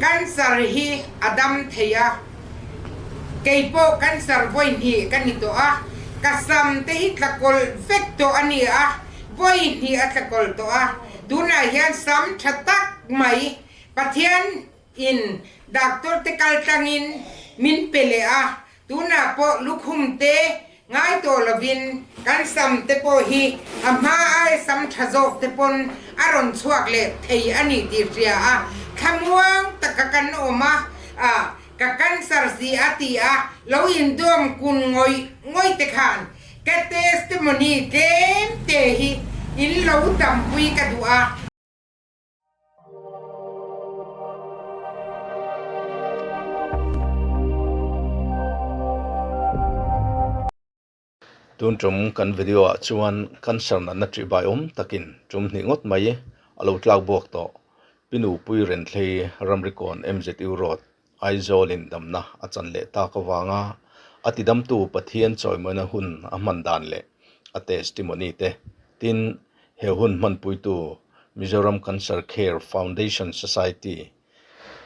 Cancer hi a dam thei a, kei pawh cancer vawihnih ka ni tawh a, ka sam te hi tlakawlh vek tawh a ni a, vawihnih a tlakawlh tawh a, tunah hian sam tha tak mai Pathian in doctor te kal tlangin min pe leh a, Tunah pawh lukhum te ngai tawh lovin kan sam te pawh hi a hma ai sam tha zawk te pawn a rawn chhuak leh thei a ni tih hria a, thlamuang taka kan awm a, ah ka cancer si a tih a lo indawm kun ngawih ngawih te khan ka testimony tlem te hi in lo dampui ka duh a. Tun ṭawng kan video ah chuan cancer natna ṭih bai awm takin ṭum hnih ngawt mai a lo tlak buak tawh, Pinu Pui Renthlei Ramrikawn MZU Road, Aizawl indamna a chan leh tak avanga a tidamtu Pathian chawimawina hun a hman dan leh a testimony te, tin, he hun hmanpuitu Mizoram Cancer Care Foundation Society,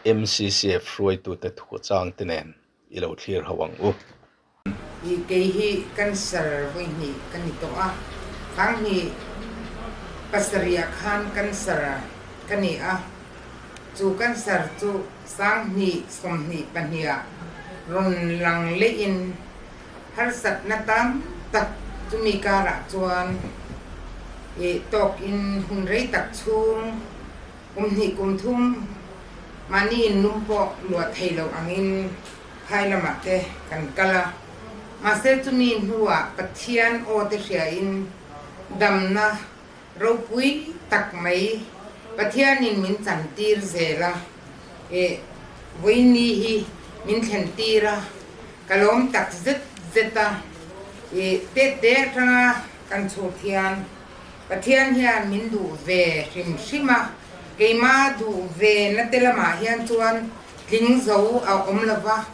MCCF, hruaitute thuchangte nen i lo thlirho ang u. I kei hi cancer vawihnih ka ni tawh a, khang hi pasarihah khan cancer ka ni a, chu cancer chu sanghnih sawmhnih pahniha rawn lang leiin harsatna tam tak chumi karah chuan i tawkin hun rei tak chhung kum hnih kum thum mahniin num pawh luah thei loh angin, Khai lamah te kan kal a, mahse chumi hnuah Pathian awte hriain damna ropui tak mai Pathianin min chantir zel a, eh, vawiini hi min thlentir a, ka lawm tak zet zet a, eh, teh teh atanga kan chhut hian Pathian hian min duh ve hrim hrim a, keimah duh ve na te lamah hian chuan, Tling zo a awm lo va,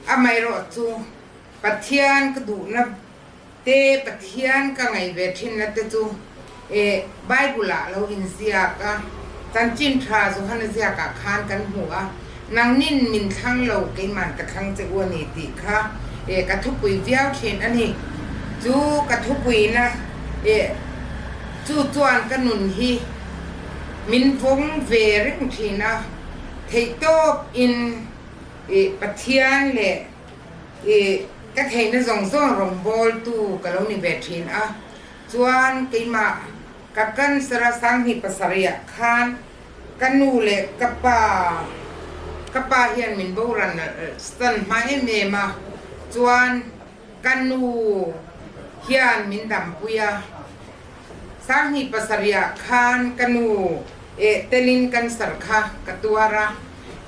amaherawh chu Pathian ka duhna te, Pathian ka ngaih ve thinna te chu Bible-ah lo inziak a, Chanchin tha Johan a ziakah khan kan hmu a, Nangnin min thlang lo, keiman ka thlang che u a ni tih kha ka thupui viau thin a ni. Chu ka thupuina chu chuan ka nun hi min vawng ve reng thin a. Theih tawp in i Pathian leh i ka theihna zawng zawng rawngbâwl tu ka lo ni ve ṭhin a, chuan keimah ka cancer-a sang hnih pasarihah khân ka nu leh ka pa, ka pa hian min boral san hma em em a, chuan Ka nu hian min dampui a, sanghnih pasarihah khan ka nu eh telin cancer kha ka tuar a.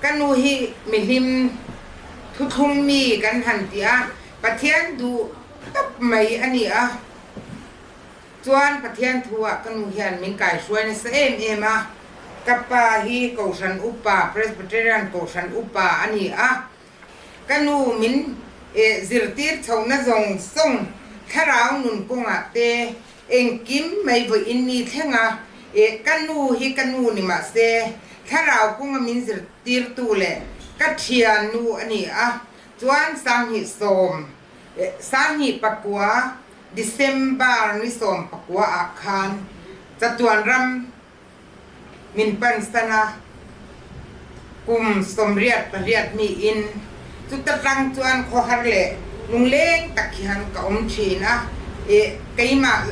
Ka nu hi mihlim thuthlung mi kan han ti a, Pathian duh tak mai a ni a. Chuan Pathian thu ah ka nu hian min kaihruai nasa em em a. Ka pa hi Kohhran upa, Presbyterian Kohhran upa a ni a. Ka nu min eh zirtir chhohna zawng sawng thlarau nun kawngah te engkim mai vawiin mi thlenga eh ka nu hi ka nu ni mah se thlarau kawnga min zirtirtu leh ka thiannu a ni a, chuan sanghnih sawm eh sanghnih pakua December ni sawm pakua ah khan Chatuanram, min pan san a, kum sawmriat pariat hnih in chuta tlang chuan khaw har leh lungleng tak hi han ka awm thin a, eh keimah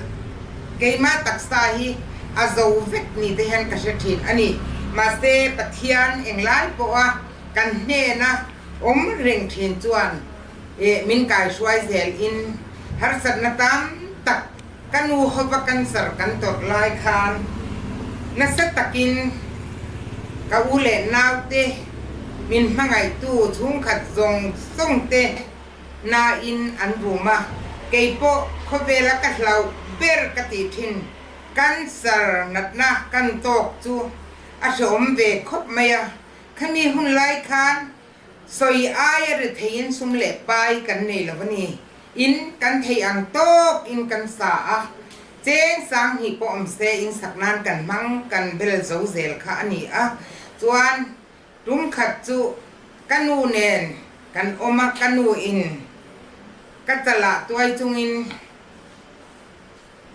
keimah taksa hi a zo vek ni te hian ka hre thin a ni, mahse Pathian eng lai pawh a kan hnen a awm reng thin chuan eh min kai hruai zel in harsatna tam tak Ka nu hopa kan zar kan tawrh lai khan nasa takin ka u leh nau te, min hmangaihtu chhungkhat zawng zawng te nain an rum a, kei pawh khawvela ka hlauh ber ka tih thin. Kan zar natna kan tawk chu a hrehawm ve khawp mai a, khami hun lai khan Sawi aia ri theiin sum leh pai kan nei lo a ni in kan theih ang tawk in kan sa a, cheng sang hnih pawh awm se in sak nan kan hmang kan bel zo zel kha a ni a, chuan tum khat chu ka nu nen kan awm a, ka nu in ka chalah tuai chungin.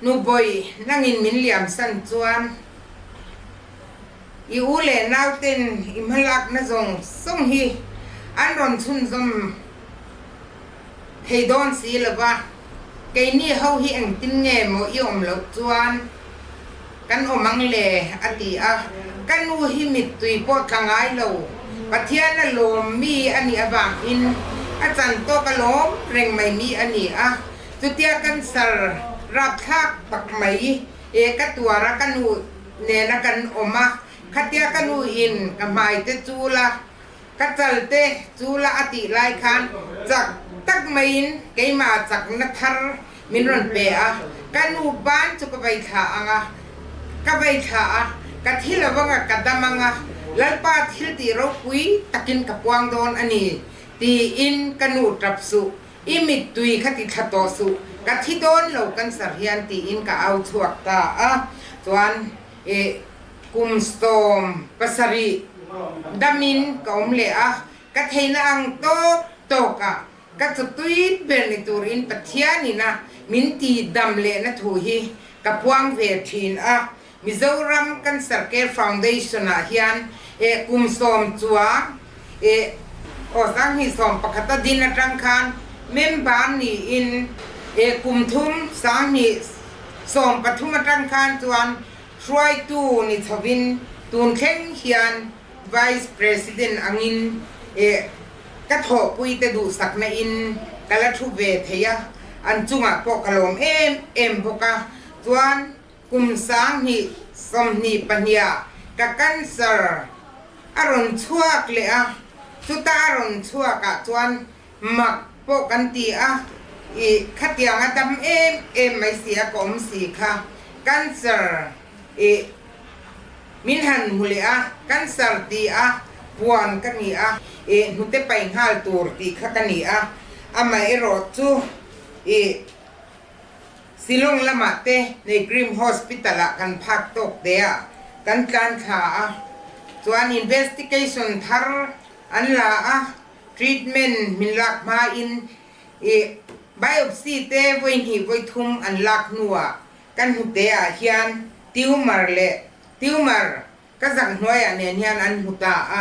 Nubawi, nangin min liamsan chuan i u leh naute'n i hma lakna zawng zawng hi an rawn chhunzawm thei dawn si lova, keini ho hi engtin nge maw i awm loh chuan kan awm ang le, a ti a. Ka nu hi mittui pawh tla ngai lo, Pathian a lawmmi a nih avangin a chantawka lawm reng mai mi a ni a. Chutia kan sal rapthlak tak mai e, ka tuara ka nu nena kan awm a, khatia ka nu in ka hmaite chu la, ka chalte chu la a tih lai khan chak tak mai in keimah chakna thar min rawn pe a, ka nu pan chu ka vai thlah ang a, ka vai thlah a, ka thil avanga ka dam ang a, Lalpa thiltih ropui takin ka puang dawn a ni, tiin ka nu tap suh I mittui kha ti thla tawh suh, ka thi dawn lo cancer hian tiin ka au chhuak ta a, chuan eh kum sawm pasarih damin ka awm leh a, ka theihna ang tawk tawkah ka chawtui ber ni turin Pathianin a min ti dam lehna thu hi ka puang ve thin a, Mizoram Cancer Care Foundation-ah hian eh kum sawm chuang eh aw sang hnih sawm pakhat a din atang khan member niin eh kum thum sang hnih sawm pathum atang khan chuan hruaitu ni chhovin tun thleng hian Vice President angin eh ka thawhpui te duhsak nain ka la thu ve thei a, an chungah pawh ka lawm em em bawk a, chuan Kum sanghnih sawmhnih pahniha ka cancer a rawn chhuak leh a, chuta a rawn chhuak ah chuan mak pawh kan ti a, i khatiang a dam em em mai si a ka awm si kha cancer i min han mu leh a, cancer ti a puan ka ni a, i hnute pai nghal tur tih kha ka ni a, amaherawhchu i Shillong lamah te Naegrim Hospital ah kan phak tawk te ah kan tlan thla a, chuan investigation thar an la a, treatment min lak hma in i biopsy te vawihnih vawithum an lak hnu ah kan hmu te ah hian tumor leh tumor Ka zan hnuaiah nen hian an hmu ta a,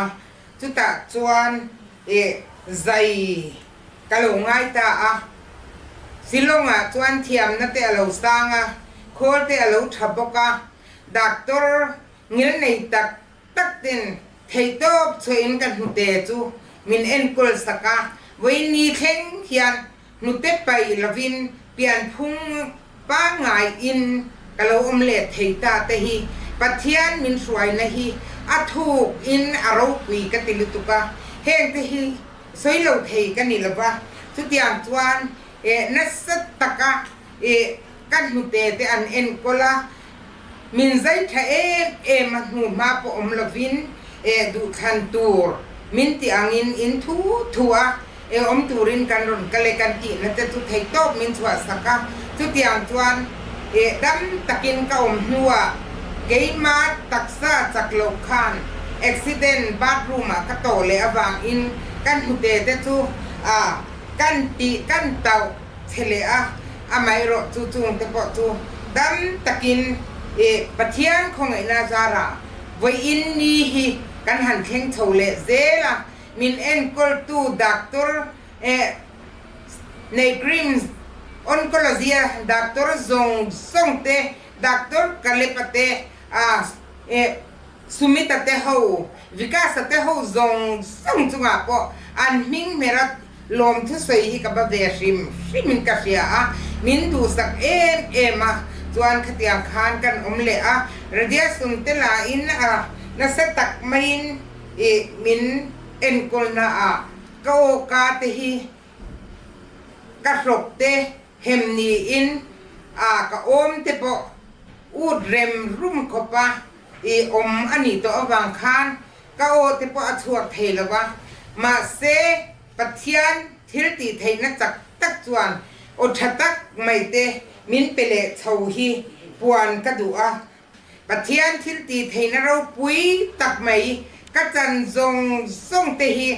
chutah chuan eh zai ka lo ngai ta a. Shillongah chuan thiamna te a lo sang a, khawl te a lo tha bawk a, doctor ngil nei tak tak ten thei tawp chhuahin ka hnute chu min enkawl sak a, vawiin ni thleng hian, Hnute paih lovin pianphung pangaiin ka lo awm let thei ta te hi Pathian min hruaina hi a thuk in a ropui ka ti lutuk a, heng te hi sawi lo thei ka ni lova, chutiang chuan nasa taka ka hnute te an enkawl a, min zaitha em em a hnuhma pawh awm lovin e duhthlan tur min tih angin in thu thu a e awm turin kan rawn kal e kan tihnate chu thei tawp min chhuahsak a, chutiang chuan e dam takin ka awm hnuah keima taksa chak loh khan accident bathroom ah ka tawh leh avangin ka hnute te chu a kan tih kan tauh. Che leh a, amaherawh chu chungte pawh chu dam takin eh Pathian khawngaihna zara vawi in ni hi kan han thleng chho leh zel a, min enkawltu Doctor eh Neighreams, Oncology a Doctor zawng zawngte, Doctor Kalepa te a eh Sumita te ho, Vikasa te ho zawng zawng chungah pawh an hming hmerat lawm thusawi hi ka ba ve hrim hrim in ka hria a, min duhsak em em a, chuan khatiang khan kan awm leh a, Radia Sum te la in a nasa tak mai in i min enkawl na a, ka awka te hi ka hlawk te hem ni in a ka awm te pawh ut rem rum khawp a, I awm a nih tawh avang khan ka aw te pawh a chhuak thei lo va, mahse Pathian thil tih theihna chak tak chuan aw tha tak mai te min pe leh chho hi puan ka duh a, Pathian thil tih theihna ropui tak mai ka chan zawng zawng te hi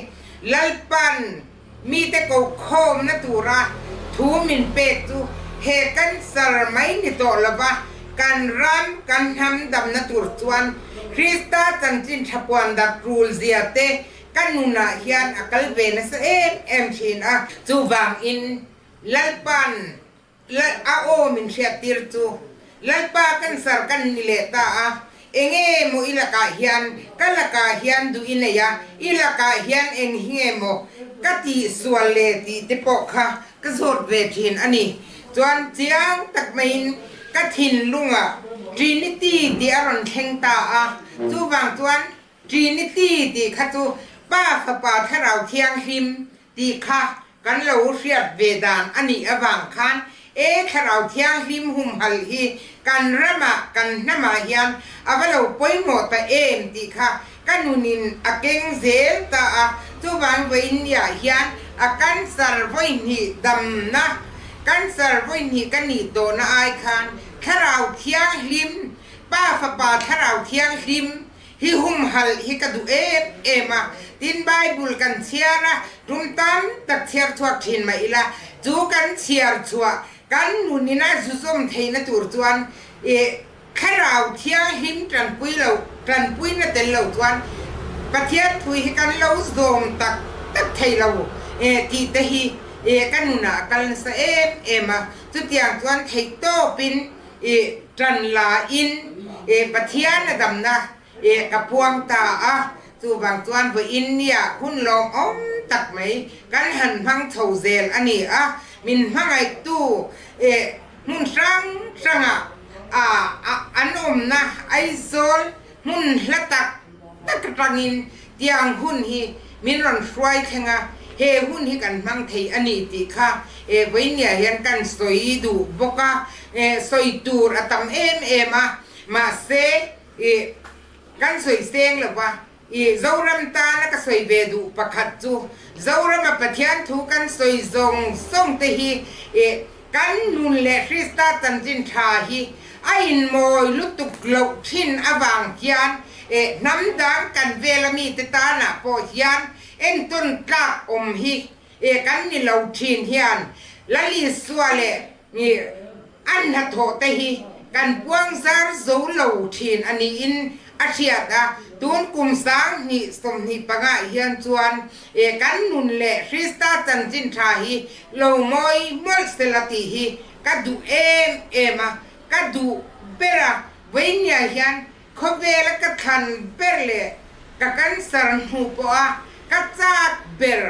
Lalpan Mite ko khawmna tura thu min pek chu he kan sar mai ni tawh lova kan ram kan hnam damna tur chuan Krista chanchin tha puandak rulzia te ka nunah hian a kal ve nasa em em thin a. Chuvangin Lalpan Lal a aw min hriat tir chu Lalpa kan sar kan ni leh ta a, eng nge maw i lakah hian, ka lakah hian duh i nei a, i lakah hian eng hi nge maw ka ti sual le tih te pawh kha ka zawt ve thin a ni. Chuan chiang tak maiin ka thinlungah Trinity tih a rawn thleng ta a, chuvang chuan Trinity tih kha chu Pa Fapa Thlarau Thianghlim tih kha kan lo hriat ve dan a nih avang khan e Thlarau Thianghlim humhal hi kan ramah, kan hnamah hian a va lo pawimawh ta em tih kha ka nunin a keng zel ta a, chuvang vawiin niah hian a cancer vawihnih damna, cancer vawihnih ka nih tawhna ai khan Thlarau Thianghlim, Pa Fapa Thlarau Thianghlim Hi humhalh hi ka duh em em a, tin Bible kan chhiar a, tum tam tak chhiar chhuak thin mah ila, chu kan chhiar chhuah kan nun ina zuzawm theihna tur chuan i Thlarau thianghlim tanpui lo, tanpuina tel lo chuan Pathian thui hi kan lo zawm tak tak thei lo tih te hi ka nunah a kal nasa em em a, chutiang chuan theihtawpin I tan la in i Pathian a damna i ka puang ta a, chu vang chuan vawi in nia hun lawng awm tak mai kan han hmang chho zel a ni a, min hmangaih tu i hmun hrang hrang ah a an awmna Aizawl hmun hla tak. Tak aṭangin tiang hun hi min rawn hruai thleng a, he hun hi kan hmang thei a ni tih kha Vawinia hian kan sawi duh bawk a, sawi tur a tam em em a, mahse kan sawi seng lo va, Zoram tana ka sawi ve duh pakhat chu Zorama Pathian thu kan sawi zawng zawngte hi Kan nun leh Krista chanchin tha hi a inmawi lutuk loh thin avang hian eh hnam dan kan vela mite tana pawh hian entawn tlak awm hi eh kan ni lo thin hian Lalisua leh Annathawhte hi kan puang zar zo lo thin a niin a hriat a, tun kum sang hnih sawmhnih panga hian chuan e kan nun leh Krista chanchin tha hi lo mawi mawlh se la tih hi ka duh em em a, ka duh ber a, vawi nia hian khawvela ka thlan ber leh ka cancer hnu pawha ka chak ber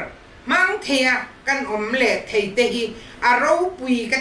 hmang thei a, kan awm leh theite hi a ropui ka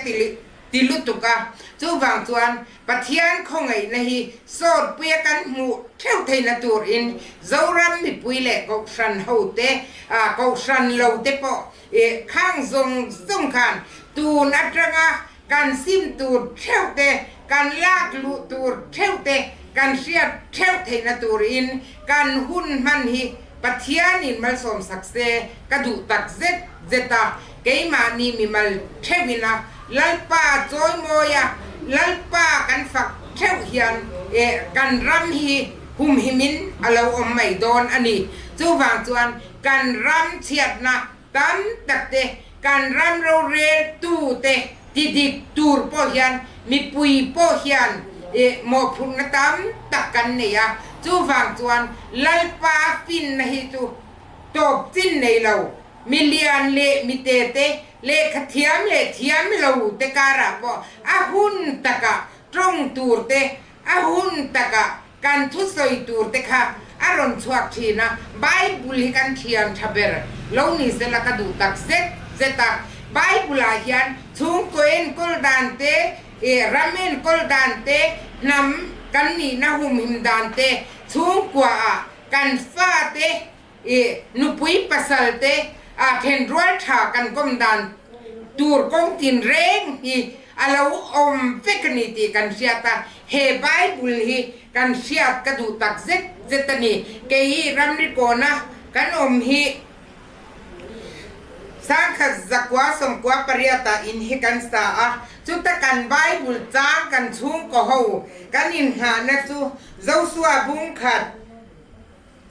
ti lutuk a, chuvang chuan Pathian khawngaihna hi sawrpuia kan hmuh theuh theihna turin Zoram mipui leh Kohhran hote, ah Kohhran lo te pawh i khang zawng zawng khan tun atanga kan sim tur theuh te, kan lak luh tur theuh te, kan hriat theuh theihna turin kan hun hman hi Pathianin malsawmsak se ka duh tak zet zeta Keimahni mi mal theuhin a Lalpa chawi mawi a, Lalpa kan fak theuh hian eh kan ram hi humhim in a lo awm mai dawn a ni. Chuvang chuan kan ram chhiatna tam tak te, kan ram rorel tu te ti dik tur pawh hian mipui pawh hian eh mawhphurhna tam tak kan nei a. Chuvang chuan Lalpa finna hi chu tawp chin nei lo. Mi lian leh mi te te, lehkha thiam leh thiam lo te karah pawh a hun takah tawng tur te, a hun takah kan thu sawi tur te kha a rawn chhuak thin a. Bible hi kan thian tha ber lo ni se la ka duh tak zet zet a. Bible ah hian chhungkaw enkawl dan te, ram enkawl dan te, hnam kan nihna humhim dan te, chhungkua ah kan fa te, I nupui pasalte ah then rualtha kan kawm dan tur kawng tin reng hi a lo awm vek a ni tih kan hriat a, he Bible hi kan hriat ka duh tak zet zet a ni. Kei i ramri kawna kan awm hi Sangkhat zakua sawmkua pariat ah in hi kan sa a, chuta kan Bible chang kan chhungkaw ho kan innghahna chu Joshua bungkhat,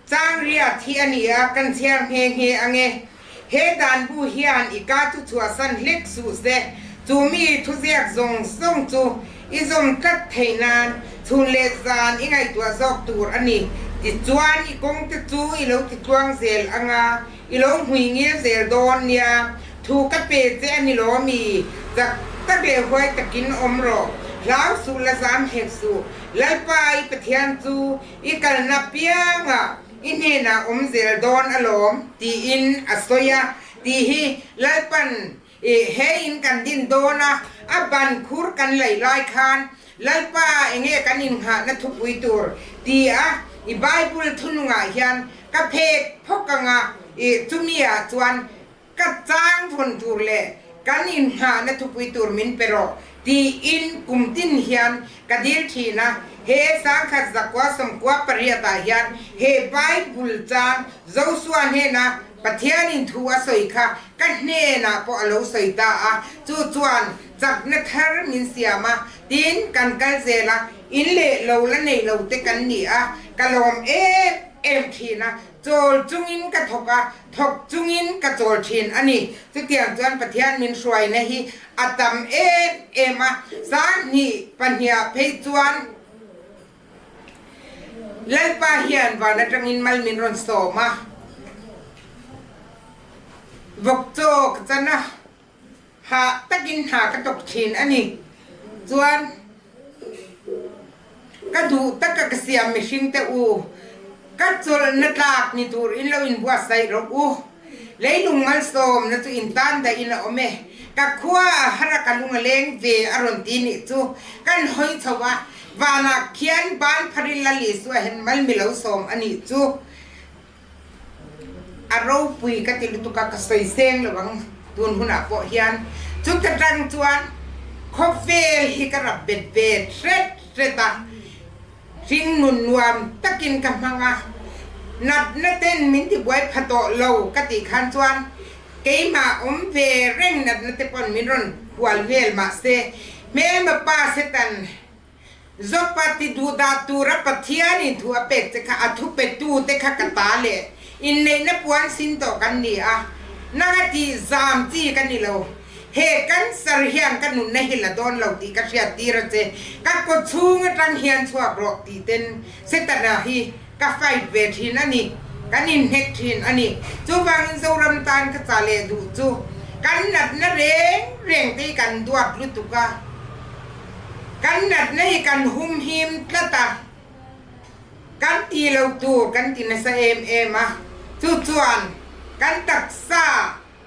Changriat hi a ni a, kan chhiar nghe nghe ang e. He danbu hian i ka thu chhuahsan hlek suh se. Chu mi thuziak zawng zawng chu i zawm tlat thei nan chhun leh zan i ngaihtuah zawk tur a ni. Tichuan, i kawngte chu i lo ti tluang zel ang a, i lo hmui ngil zel dawn nia. Thu ka pe che a ni lawmi? Chak ta ve huai takin awm rawh. Hlau suh la zam hek suh. Lalpa i Pathian chu I kalna pianga i hnenah awm zel dawn alawm, tiin a sawi a. Tih hi Lalpan i he in kan din dawn a, a ban khur kan laih lai khan Lalpa enge kan innghahna thupui tur? tiah i Bible thunungah hian ka phek phawk ang a, i chumi ah chuan Ka tlangvawn tur leh kan innghahna thupui tur min pe rawh, tiin kum tin hian ka dil thin a. He sangkhat zakua sawmkua pariatah hian he Bible chang Joshua hnena Pathianin thu a sawi kha ka hnenah pawh a lo sawi ta a, chu chuan chakna thar min siam a, tiin kan kal zel a, in leh lo la nei lo te kan ni a, ka lawm em em thin a. Chawl chungin ka thawk a, thawk chungin ka chawl thin a ni. Chutiang chuan Pathian min hruaina hi a tam em em a. Sanghnih pahniah phei chuan Lalpa hian van atangin mal min rawn sawm a, vawkchaw ka chan a, Hah takin hna ka tawk thin a ni. Chuan ka duh taka ka siam mihringte u, ka chawlhna tlak ni tur in lo inbuatsaih rawh u. Leilung malsawmna chu in tan dahin a awm e. Ka khua ah hara ka lung a leng ve a rawn ti nih chu kan hawi chho a, vanah khian Banpharil Lal Isua hian mal mi lo sawm a nih chu A ropui ka ti lutuk a, ka sawi seng lo ang, tun hunah pawh hian. Chuta tang chuan khawvel hi ka rap bet ve hret hret a, hringnun nuam takin ka hmang a, natna ten min ti buai pha tawh lo ka tih khan chuan keimah awm ve reng natna te pawn min rawn hual hmel mah se hmelma pa Satan Joppa ti duh dah tura Pathian in thu a pek che kha a thu pe tu te kha ka ta leh in neih na puan sin tawh kan ni a, nang a ti zam chi ka ni lo, he cancer hian ka nun na hi la dawn lo tih ka hriat tir a che, ka kawt chhung atang hian chhuak rawh tih ten Setana hi Ka fight ve thin a ni. Kan inhnek thin a ni. Chu vangin Zoram tan ka chah leh duh chu kan natna reng reng te hi kan duat lutuk a. Kan natna hi kan humhim tlat a. Kan tilo tur kan ti nasa em em a. Chu chuan kan taksa.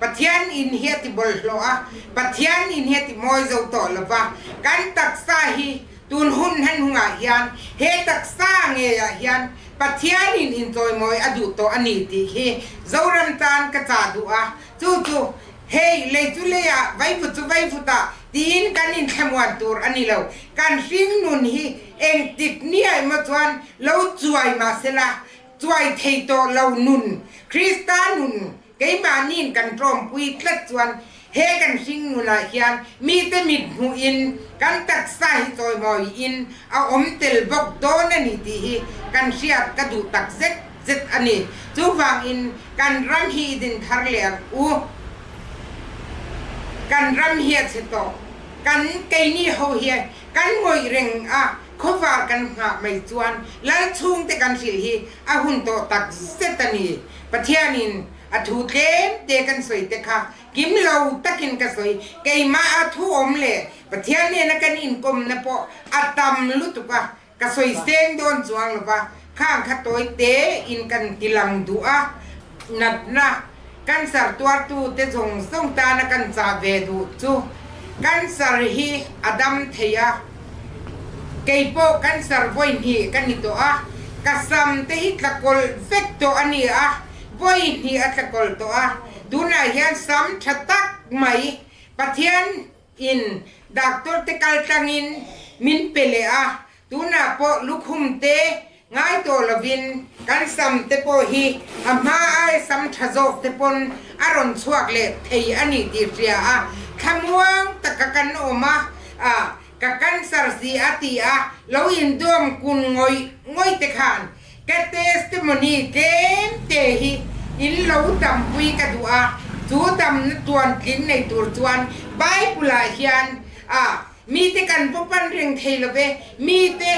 Pathian in hi a ti bawlhhlawh a, Pathian in hi a ti mawi zo tawh lo va, kan taksa hi tun hun hman hungah hian he taksa ngeiah hian Pathian in intlawimawih a duh tawh a ni tih hi Zoram tan ka chah duh a, chu chu hei lei chu lei a, vaivut chu vaivut a tiin kan inthlemuan tur a ni lo. Kan hringnun hi engtik ni ai maw chuan lo chuai mahsela chuai thei tawh lo nun, Krista nun, Keimahni'n kan tlawmpui tlat chuan he kan hring ngunah hian mite mithmuhin kan taksa hi chawimawiin a awm tel bawk dawn a ni tih hi kan hriat ka duh tak zet zet a ni. Chuvangin kan ram hi i din thar leh ang u, kan ram hi a chhe tawh, kan keini ho hi kan ngawih reng a, khawvar kan nghah mai chuan lalchhungte kan hrilh hi a hun tawh tak zet a ni. Pathianin a thu tlem te kan sawi te kha kim lo takin ka sawi. Keimah a thu awm leh Pathian hnena kan inkawmna pawh a tam lutuk a, ka sawi seng dawn chuang lo va, khang kha tawi te in kan ti lang duh a. Natna, kan sar tuartu te zawng zawng tana kan chah ve duh chu kan sar hi a dam thei a. Kei pawh kan sarvawi hnih ka ni tawh a, ka sam te hi tlakawlh vek tawh a ni a, vawi hnih a tlakawlh tawh a, tunah hian sam tha tak mai Pathian in Doctor te kaltlangin min pe leh a, tunah pawh lukhum te Ngai tawh lovin kan sam te pawh hi a hma ai sam tha zawk te pawn a rawn chhuak leh thei a ni tih hria a, thlamuang taka kan awm a, ah ka cancer si a tih a lo indawm kun ngawih ngawih te khan ka testimony tlem te hi in lo dampui ka duh a, chu damna tuan tling nei tur chuan Bible-ah hian ah mite kan vaw pan reng thei love, mite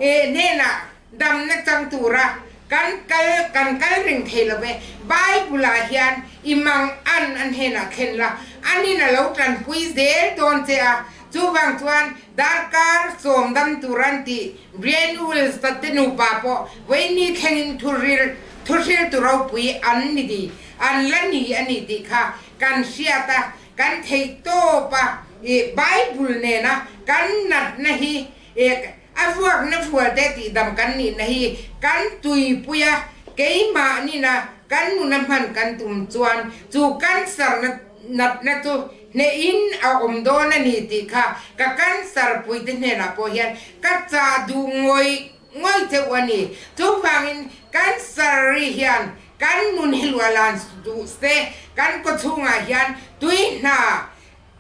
Eii hnenah damna chang tura kan kal kan kal reng thei lo ve. Bible-ah hian i mang an a hnenah thlen la, an in a lo tlanpui zel dawn che a, chuvang chuan darkar sawmdam tur an ti. Brian Wills-a te nupa pawh vaini thlengin thuril thuhriltu ropui an ni ni, an la ni a nih tih kha kan hriat a, kan theihtawpa i Bible nena kan natna hi Ek, a vuak na vual te tih dam kan nih na hi kan tui pui a, keimah nina kan nun a hman kan tum chuan chu kan sar na nat na chu hneh in a awm dawn a ni tih kha ka kan sar pui te hnenah pawh hian ka chah duh ngawih ngawih cheuh a ni. Chuvangin kan sar ri hian kan nun hi luah lan duh se kan kawchhungah hian tui hna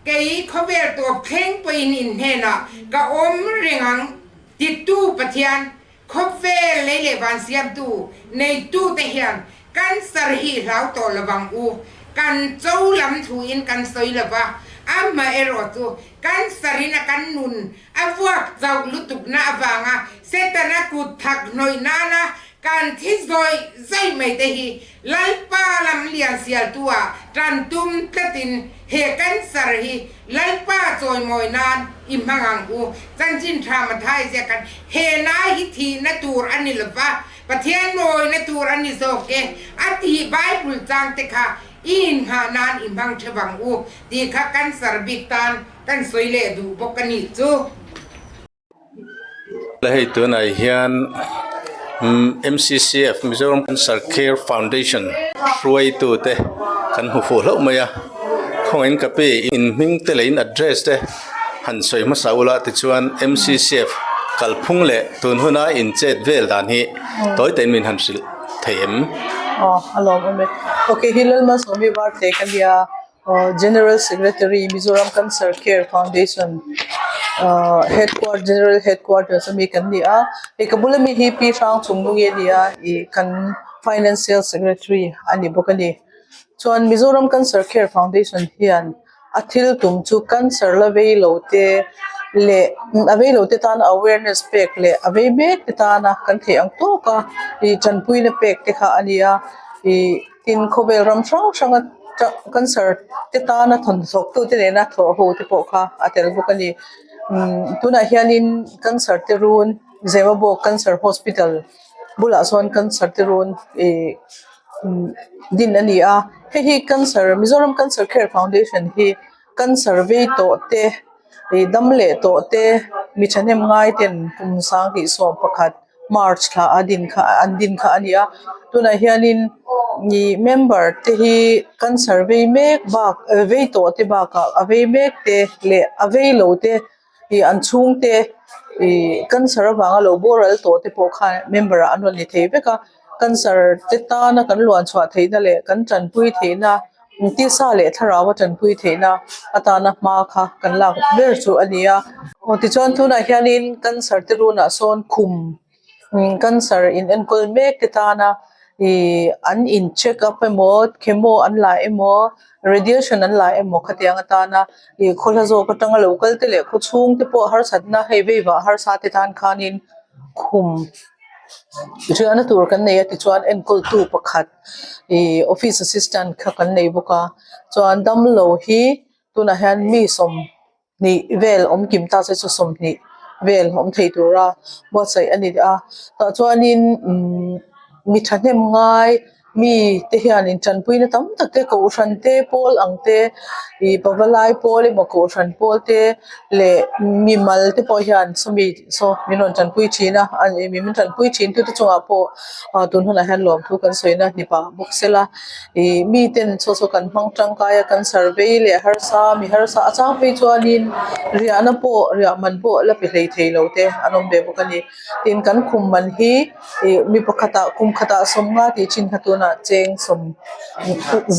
Kei khawvel tawp thleng pawhin in hnenah ka awm reng ang titu Pathian, khawvel lei leh van siamtu neitute hian kan sarhi hlau tawh lo vang u, kan cho lam thluin kan sawi lo va, amah erawh chu kan sarhin a kan nun a vuak chauh lutukna avanga Setana kut thak hnawih nana kan thi zawih zawih mai te hi Lalpa lam liansialtua tan tum tlatin he cancer hi Lalpa chawimawi nan i hmang ang u, chanchin tha mathai zia kan he nai hi thihna tur a ni lova, Pathian mawina tur a ni zawk e, a tih Bible changte kha i inngah nan i hmang thap ang u tih kha cancer bik tan kan sawi leh duh bawk a nih chu. Hei tunah hian MCCF Mizoram Cancer Care Foundation hruaitu te kan hmu fuh hlauh mai a, khawngaih in ka pi in hming te leh in address te han sawi hmasa ula tichuan MCCF kalphung leh tun huna in chet vel dan hi tawi takin min han hrilh thei em? ahh general secretary mizoram cancer care foundation ahh headquar general headquarters a mi kan ni a ih ka bula mi hi pi hrang chung nung i a ni a ih kan financial secretary a ni bawk a ni chuan mizoram cancer care foundation hian a thil tum chu cancer la vei lo te leh a vei lo te tan awareness pek leh a vei mek te tana kan theh ang tawk a ih ṭanpuina pek te kha a ni a ihh-- Tin khawvel ram hrang hranga cancer te tana thawn zawktute nena thawh ho te pawh kha a tel bawk a ni. Tunah hianin cancer te run Zewabawk cancer hospital bulah chuan cancer te run din a ni a, hei hi cancer Mizoram cancer care foundation hi cancer vei tawh te, dam leh tawh te, mi thahnem ngaiten kum sang hnih sawm pakhat. march thla a din kha an din kha a ni a tunah hianin ih member te hi cancer vei mek bak eh vei tawh te bakah a vei mek te leh a vei lo te ih an chhungte ih cancer avanga lo boral tawh te pawh khan member ah an rawn ni thei vek a cancer te tana kan luan chhuah theihna leh kan tanpui theihna-- Tisa leh thlarau atanpui theihna atana hma kha kan lak ber chu a ni a. Tichuan tunah hianin cancer te runa sawn khum cancer in enkawl mek te tana ih an in check up emaw chemo an la emaw radiation an la emaw khatiang atana ih khawla zawk atanga lo kal te leh khaw chhung te pawh harsatna hei vaivah harsa te tan khanin khum riahna tur kan nei a tichuan enkawl tu pakhat-- ihh office assistant kha kan nei bawk a chuan damlo hi tunah hian mi sawmhnih vel awm kim ta se chu sawmhnih vel awm thei tura buatsaih a ni a tah chuanin imm mi thahnem ngai mite hian in tanpuina tam tak te kohhran te pawl ang te ihh pava lai pawl emaw kohhran pawl te leh mimal te pawh hian chumi saw min rawn tanpui thin a an min tanpui thin tute chungah pawh-- ah tun hunah hian lawmthu kan sawina hnipa bawk sela ih mi ten chhaw chhaw kan hmang tangkaia kan survey leh harsa mi harsa a chang phei chuanin riahna pawh riah man pawh la pe hlei theilo te an awm ve bawk a ni tin kan khum man hi ih mi pakhata kum khata sawm nga tih chin kha tuna cheng sawm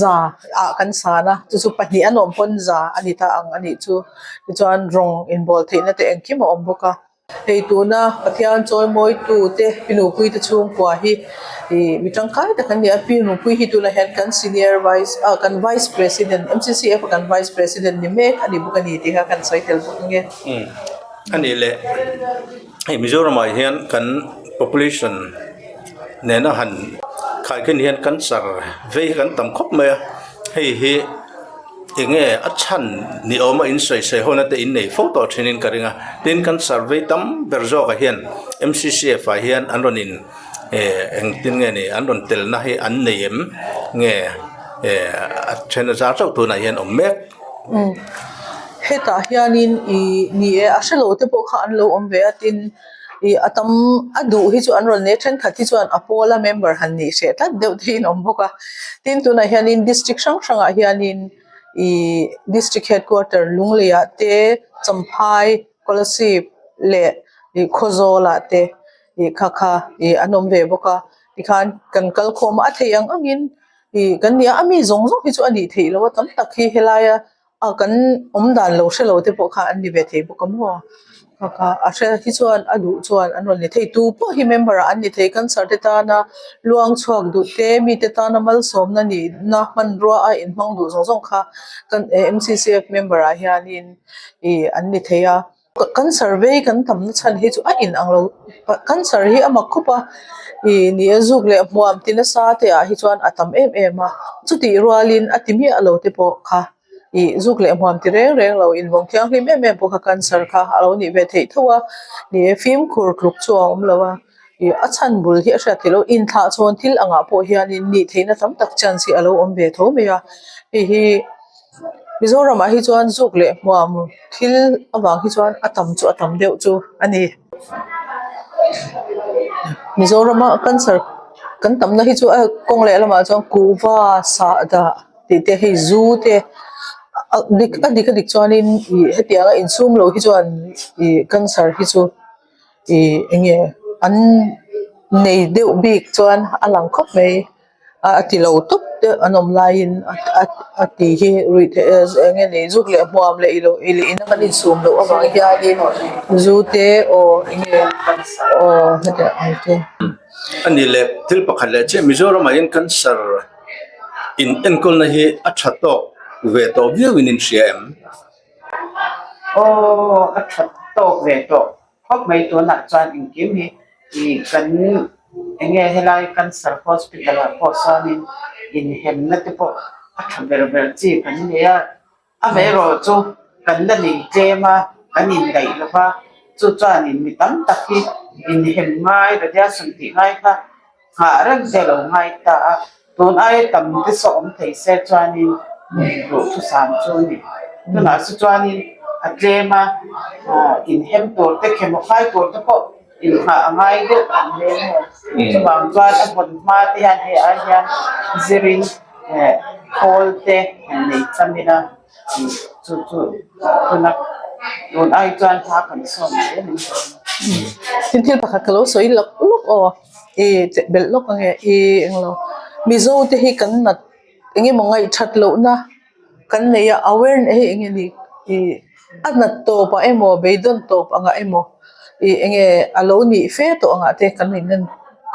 za ah kan san a chu chu pahnih a nawm pawn za a ni ta ang anih chu tichuan rawng inbawl theihna te engkim a awm bawk a. Hei tuna Pathian chawimawitu te pi nupui te chhungkua hi ih mi tangkai tak an ni a, pi nupui hi tunah hian kan senior vice ah kan vice president MCCF a kan vice president ni mek a ni bawk a ni tih kha kan sawi tel bawk ang e. A nih leh, hei Mizoram ah hian kan population nena han khaikhin hian cancer vei hi kan tam khawp mai a, hei hi-- Enge a chhan ni awm a insawi sawi ho nate in nei fo tawh thinin ka ring a, tin kan survey tam ber zawkah hian MCCF ah hian an rawn in engtin nge ni an rawn tel na hi an nei em nge a then a zar chauh tunah hian awm mek hetah hianin ih ni e a hre lo te pawh kha an lo awm ve a tin-- ih a tam a duh hi chu an rawn leh thenkhat hi chuan a pawla member han nih hreh tlat deuh thin a awm bawk a tin tunah hianin district hrang hrangah hianin ihh district headquarter Lungleia te Champhai Kolasib leh ih Khawzawlah te ih kha kha ih an awm ve bawk a tikhan kan kal khawm a a thei ang angin ih kan nia ami zawng zawng hi chu a nih theih loh a tam tak hi helaia-- A kan awm dan lo hre lo te pawh kha an ni ve thei bawk a maw kha a hriat hi chuan a duh chuan a rawn ni thei tu pawh hi member ah an ni thei cancer te tana luang chhuak duh te mi te tana malsawm na nih na hmanruaa a inhmang duh zawng zawng kha kan eh M C C F member ah hianin ih an ni thei a. kan survey kan tam na chhan hi chu a in ang lo kan sir hi a mak khawp a ih nih a zuk leh hmuam ti nasa te ah hi chuan a tam em em a chuti rual in a ti miah a lo te pawh kha ih zuk leh hmuam ti reng reng lo in vawng thianghlim em em pawh kha kan sir kha a lo nih ve thei tho a ni e fimkhur tluk chu a awm lo a ih a chhan bul hi a hriat theih lo in thlah chuan thil angah pawh hian in nih theih na tam tak chance hi a lo awm ve tho mai a hei hi-- Mizoramah hi chuan zuk leh hmuam thil avang hi chuan a tam chu a tam deuh chu a ni Mizorama culture kan tam na hi chu a kawng leh lamah chuan kuhva sahdah tih te hei zu te a dik a dik a dik chuan in ih hetianga insum loh hi chuan ih culture hi chu-- ih eng nge an nei deuh bik chuan a lang khawp mai a a tilo tawp deuh an awm laiin a ti hi ruih theih eh eng nge nei zuk leh hmuam leh ilo ilo in a kan insum loh avang hianin zu te aw eng nge aw hetiang ang te a nih leh thil pakhat leh chiah Mizorama in cancer in enkawl na hi a tha tawk ve tawh viau in in hria em? Aww a that tawk ve tawh khawp mai tunah chuan engkim hi ih kan enge helai cancer hospital ah pawh chuanin inhemna te pawh a tha ber ber chi kan ni a a vei erawh chu kan la lei tlem a kan indaih lo va chu chuanin mi tam tak hi inhen ngai retiasawm tih ngai kha. nghah reng te lo ngai ta a, tun aia tam te saw awm thei se chuanin nuih duh thusam chu a ni. Tunah saw chuanin a tlem a, inhem tur te, khemawhfai tur te pawh inngah a ngai deuh ang hle a ni. Chuvang chuan a hawn hma te hian hei a hian zirin khawl te an nei cham ila. thil pakhat ka lo sawi lak lak aw i chehbelh lawk ange i englo mizo te hi kan nat eng emaw ngaihthat lohna kan nei a a nat tawp ah emaw beidawn tawp ang ah emaw. ih eng nge a lo nih fe tawh ang ah te kan in en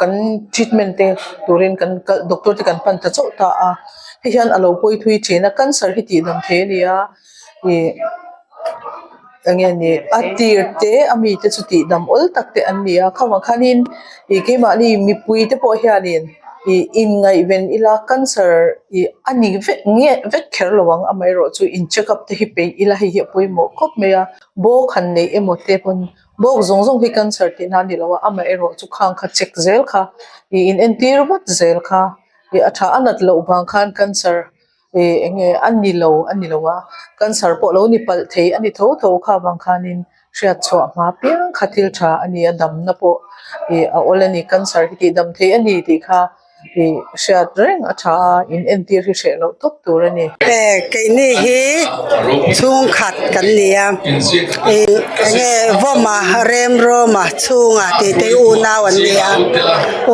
kan treatment te turin kan kal doctor te kan pan ta chauh ta a hei hian a lo pawi thui thin a cancer hi tih dang thei a ni a ih eng nge ni a tir te a mi te chu tih dam awl tak te an ni a kham ah khan in ih keimah ni mipui te pawh hian in ih in ngaihven ila cancer ih a ni vek nge vek kher lo ang amaherawhchu in checkup te hi peih ila hei hi a pawimawh khawp mai a. bawk han neih emaw te pawhin bawk zawng zawng hi cancer tih nan nilo a amah erawh chu khang kha check zel kha ih in entir vat zel kha ih a tha a nat loh vang khan cancer ih eng nge a nilo a nilo a cancer pawh lo ni palh thei a ni tho tho kha vang khanin hriat chhuah hma piang kha thil tha a ni a damna pawh ih a awlh a ni cancer hi tih dam thei a ni tih kha. tih hriat reng a tha a in entir hi hreh loh tawp tur a ni. Keini hi chhungkhat kan ni a eng nge vawma remrawma chhunga tih te hi unau an ni a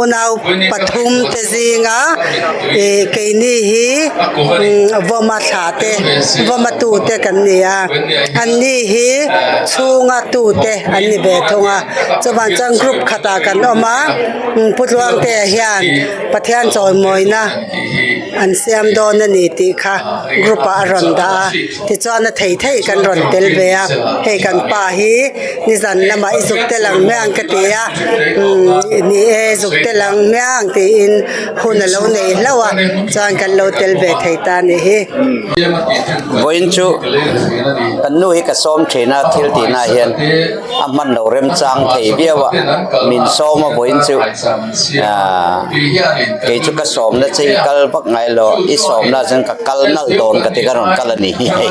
unau pathum te zinga ih keini hi vawma thla te vawma tu te kan ni a an ni hi chhunga tute an ni ve thung a chuvan chuan group khatah kan awm a. Pu Tluangtea hian Pathian chawimawina an siam dawn a ni tih kha group ah a rawn dah a tichuan a thei theih kan rawn tel ve a hei kan pa hi nizan lamah i zuk tel ang hmiang ka ti a i ni e zuk tel ang hmiang tiin hun a lo nei hlauh a chuan kan lo tel ve thei ta a nih hi. Vawiin chu kan nu hi ka sawm thin a thil tihnaah hian. a hman lo remchang thei viau a, min sawm a vawiin chu aah kei chu ka sawmna che i kal vak ngai lo, i sawmnaah chuan ka kal nalh dawn ka ti ka rawn kal a ni hi hei.